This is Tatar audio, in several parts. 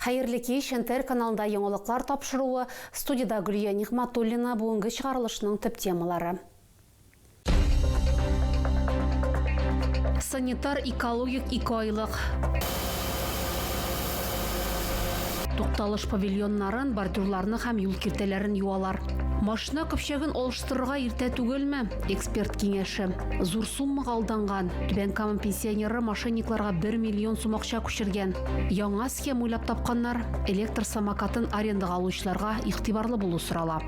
Хәерле кич, НТР каналында яңалыклар тапшыруы, студиядә Гөлия Нигъматуллина, бүгенге чыгарылышның төп темалары. Санитар экологик икеайлык. Тукталыш павильоннарын, бордюрларны һәм юл киртәләрен юалар. Машина көпчәген алыштырырга иртә түгелме? Эксперт киңәше. Зур суммага алданган. Түбән Кама пенсионеры мошенникларга бер миллион сум акча пешергән. Яңа схема уйлап тапканнар, электр самокатын арендага алучыларга игътибарлы булу сорала.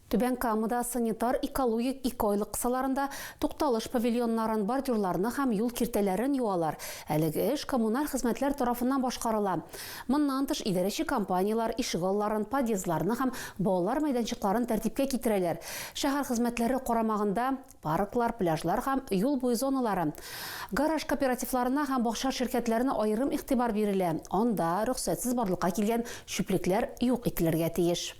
Түбән Камада санитар-экологик экойлык кысаларында тукталыш павильоннарын, бордюрларны һәм юл киртәләрен юалар. Әлеге эш коммуналь хезмәтләр тарафыннан башкарыла. Моннан тыш идарәче компанияләр ишек алларын, подъездларны һәм балалар мәйданчыкларын тәртипкә китерәләр. Шәһәр хезмәтләре карамагында Парклар, пляжлар һәм юл буе зоналары, гараж кооперативларына һәм бакча ширкәтләренә аерым игътибар бирелә, анда рөхсәтсез барлыкка килгән чүплекләр юк ителергә тиеш.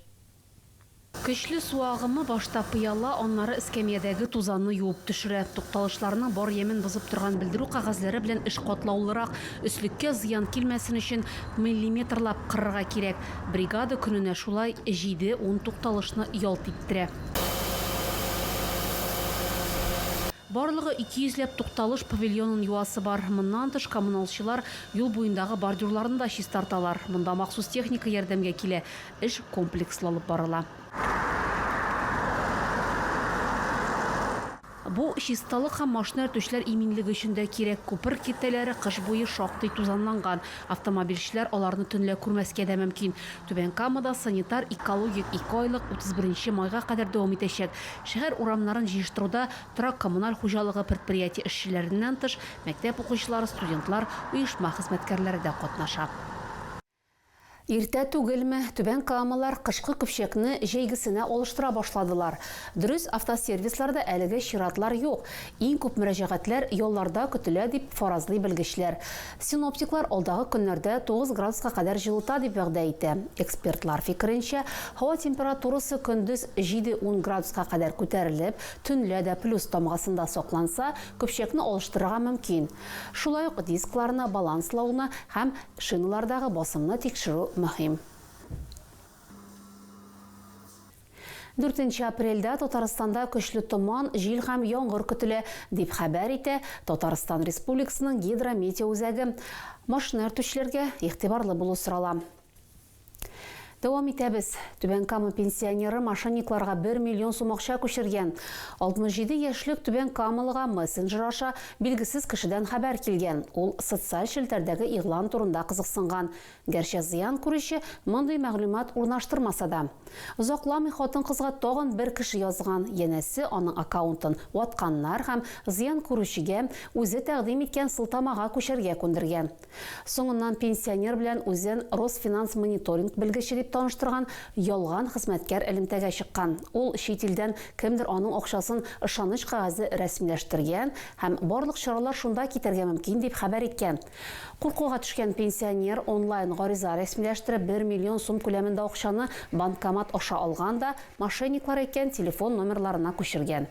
Көчле су агымы башта пыяла, аннары эскәмиядәге тузанны юып төшерә. Тукталышларның бар ямен бозып торган белдерү кәгазьләре белән эш катлаулырак, өслеккә зыян килмәсен өчен миллиметрлап кырырга кирәк. Бригада көненә шулай җиде-ун тукталышны ялт иттерә. Барлыгы ике йөзләп тукталыш павильонын юасы бар. Моннан тыш коммуналчылар юл буендагы бордюрларны да чистарталар. Монда махсус техника ярдәмгә килә, эш комплекслы алып барыла. Бу, чисталык һәм машина йөртүчеләр иминлеге өчен дә кирәк. Күпер киртәләре кыш буе шактый тузанланган. Автомобильчеләр аларны төнлә күрмәскә дә мөмкин. Түбән Камада санитар-экологик ике айлык, 31 майга кадәр дәвам итәчәк. Шәһәр урамнарын җыештыруда торак-коммуналь хуҗалыгы предприятие эшчеләреннән тыш, мәктәп укучылары, студентлар, оешма хезмәткәрләре дә катнаша. Иртә түгелме, Түбән Камалар кышкы көпчәкне җәйгесенә алыштыра башладылар. Дөрес, автосервисларда әлеге чиратлар юк, иң күп мөрәҗәгатьләр ялларда көтелә, дип фаразлый белгечләр. Синоптиклар алдагы көннәрдә тугыз градуска кадәр җылыта дип вәгъдә итә. Экспертлар фикеренчә, һава температурасы көндез җиде-ун градуска кадәр күтәрелеп, төнлә дә плюс тамгасында сакланса, көпчәкне алыштырырга мөмкин. Шулай ук дискларны баланслауны һәм Шиналардагы басымны тикшерү мөһим. Дүртенче апрельдә Татарстанда көчле томан, җил һәм яңгыр көтелә, дип хәбәр итә Татарстан Республикасының Гидрометеоүзәге. Машина йөртүчеләргә игътибарлы булу сорала. Дәвам итәбез. Түбән Кама пенсионеры мошенникларга 1 миллион сум акча күчергән. 67 яшьлек түбән камалыга мессенджер аша билгесез кешедән хәбәр килгән. Ул социаль челтәрдәге игълан турында кызыксынган. Гәрчә зыян күрүче мондый мәгълүмат урнаштырмаса да. Озакламый хатын-кызга тагын бер кеше язган, янәсе, аның аккаунтын ватканнар һәм зыян күрүчегә үзе тәкъдим иткән сылтамага күчәргә күндергән. Соңыннан пенсионер белән үзен Росфинанс-мониторинг белгече дип таныштырган ялган хезмәткәр элемтәгә чыккан. Ул чит илдән кемдер аның акчасын ышаныч кәгазе рәсмиләштергән һәм барлык чаралар шунда китәргә мөмкин дип хәбәр иткән. Куркуга төшкән пенсионер онлайн гариза рәсмиләштереп бер миллион сум күләмендә акчаны банкомат аша алган да мошенниклар әйткән телефон номерларына күчергән.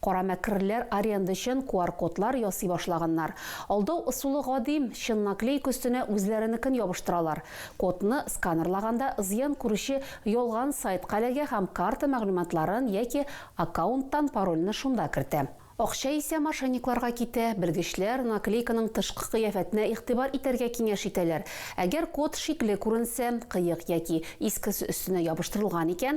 Кара мәкерләр арендачан куар-кодлар ясый башлаганнар. Алдау ысулы гадим, чын наклейка өстенә үзләренекен ябыштыралар. Кодны сканерлаганда зыян күрүче ялган сайтка эләгә һәм карта мәгълүматларын яки аккаунттан парольне шунда кертә. Акча исә мошенникларга китә. Белгечләр наклейканың тышкы кыяфәтенә игътибар итәргә киңәш итәләр. Әгәр код шикле күренсә, кыек яки искесе өстенә ябыштырылган икән,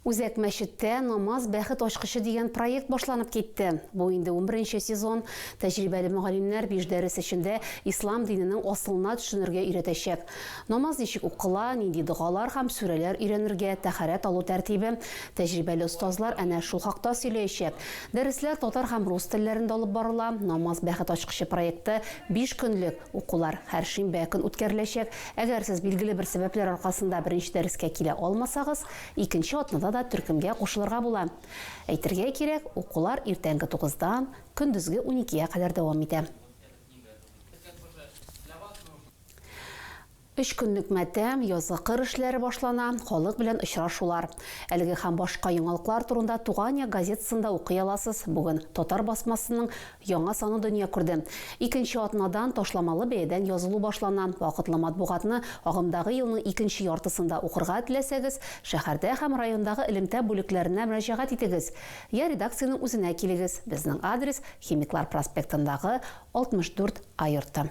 Үзәк мәчеттә Намаз, бәхет ачкычы дигән проект башланып китте. Бу инде унберенче сезон. Тәҗрибәле мөгаллимнәр биш дәрес эчендә ислам диненең асылына төшенергә өйрәтәчәк. Намаз ничек укыла, нинди догалар һәм сүрәләр өйрәнергә, тәһарәт алу тәртибе. Тәҗрибәле остазлар әнә шул хакта сөйләячәк. Дәресләр татар һәм рус телләрендә алып барыла. Намаз, бәхет ачкычы проекты биш көнлек. Укулар һәр шимбә көн үткәреләчәк. Әгәр сез билгеле бер сәбәпләр аркасында беренче дәрескә килә алмасагыз, икенче атнада да төркемгә кушылырга була. Әйтергә кирәк, укулар иртәнге тугыздан көндезге уникегә кадәр дәвам итә. Өч көнлек матәм, язгы кыр эшләре башлана, халык белән очрашулар. Әлеге һәм башка яңалыклар турында Туган як газетасында укый аласыз. Бүген Татар басмасының Яңа саны дөнья күрде. Икенче атнадан ташламалы бәядән язылу башлана. Вакытлы матбугатны агымдагы елның икенче яртысында укырга теләсәгез, шәһәрдә һәм райондагы элемтә бүлекләренә мөрәҗәгать итегез, я редакциянең үзенә килегез, безнең адрес, Химиклар проспектындагы 64 А йорты.